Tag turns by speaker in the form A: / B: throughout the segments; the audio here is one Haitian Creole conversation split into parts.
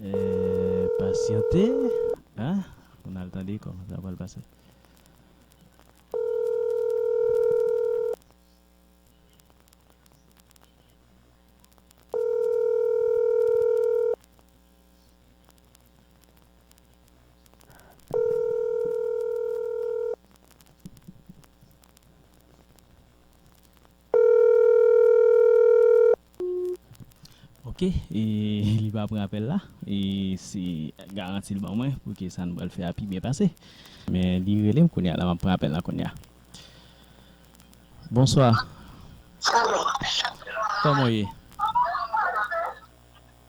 A: Eeh pasyante ahh pou nal tande kòman sa pral pase. Ok e li pa pran apèl la e se garanti li ban mwen pou ke sa nou pral fè a pi byen pase. Men li rele m kounya la map pran apèl la kounya. Bonswa. Kòman w ye?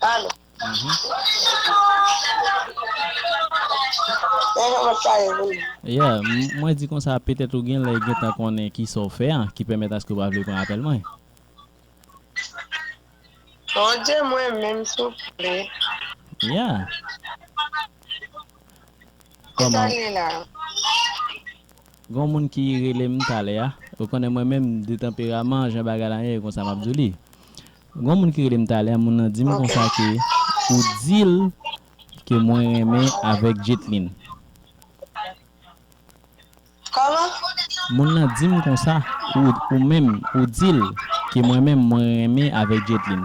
B: Alo. Yeah,
A: mwen di konsa petèt ou gen lè gentan konnen kisa w fè an ki pèmèt aske w pa vle pran apèl mwen.
B: Bon Dye mwen menm souple.
A: Yeah.
B: Kisa l ye la?
A: Gon moun ki rele m talè a, ou konnen mwen menm de tanperaman jan bagay la ye e konsa m ap di w li. Gon moun ki relem talè moun nan dim konsa ke ou dil ke mwen renmen avek Jetlin.
B: Moun nan
A: dim konsa ou menm ou dil ke mwen menm mwen renmen avek Jetlin.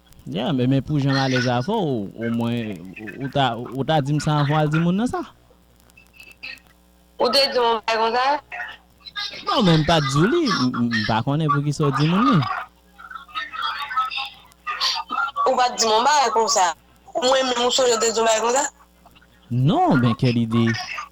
B: Yeah men
A: men pou janm alèz avèw o mwen ou ta ou ta dim sa anvan wal di moun nan sa.
B: Ou te dim yon bagay konsa? Non men
A: m pat di w li, m pa konnen poukisa w di moun li.
B: Ou pat di m yon bagay konsa. Mwen menm ou sonje w te di yon bagay konsa? Non
A: men quelle idée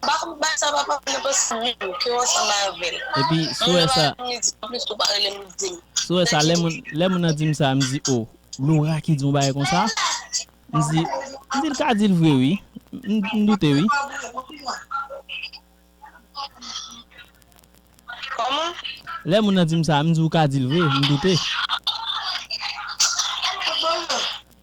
B: Pa fout bay sa papa m nan paske m menm ke w ansanm avè l. Epi sou e sa.
A: Moun nan pa rele m li di m anplis tou pa rele m li di m. Sou e sa lè moun nan di m sa m di o Laura ki di yon bagay konsa? M di m di l ka di l vre wi m doute wi.
B: Kòman? Lè moun nan di
A: m sa m di ou ka di l vre m doute.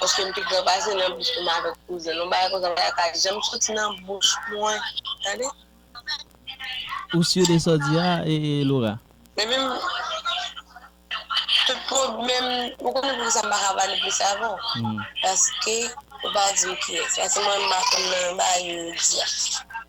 B: Paske m pi gran pase nan bouch li m avèk kouzenl. Yon bagay konsa pa ka janm soti nan bouch mwen. Tande.
A: Ou sur de sa w di a Laura? Depi m
B: tout pwoblèm ou konnen poukisa m pa ka pale plis avè w? Paske ou pa di m kiyès. Paske mwen menm m pa konn nan bagay yo di a.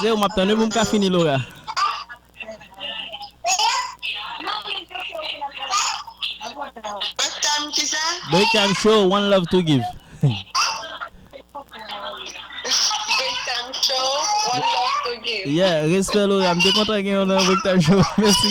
A: Se ou map tann wi pou m ka fini Laura. Break time show one love to
B: give. Yeah respè Laura
A: m te kontan gen ou nan break time show mèsi.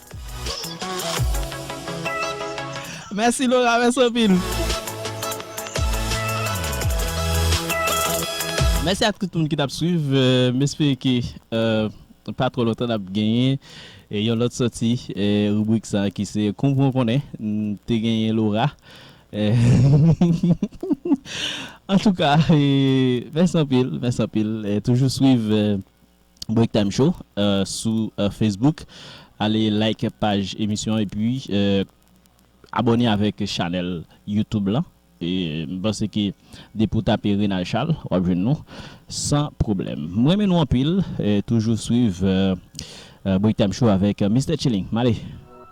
A: Mèsi Laura mèsi anpil. Mèsi ak tout moun ki tap swiv m espere ke pa twò lontan nap genyen yon lòt sòti ribrik sa ki se konpran w konnen m te genyen Laura antouka mèsi anpil mèsi anpil toujou swiv Breaktime Show sou Facebook. Ale like paj emisyon an epi abòne avèk chanèl YouTube lan. M panse ke depi ou tape Renal Charles wap jwenn nou san pwoblèm. M renmen nou anpil. Toujou swiv Breaktime Show avèk Mister Tcheling. M ale!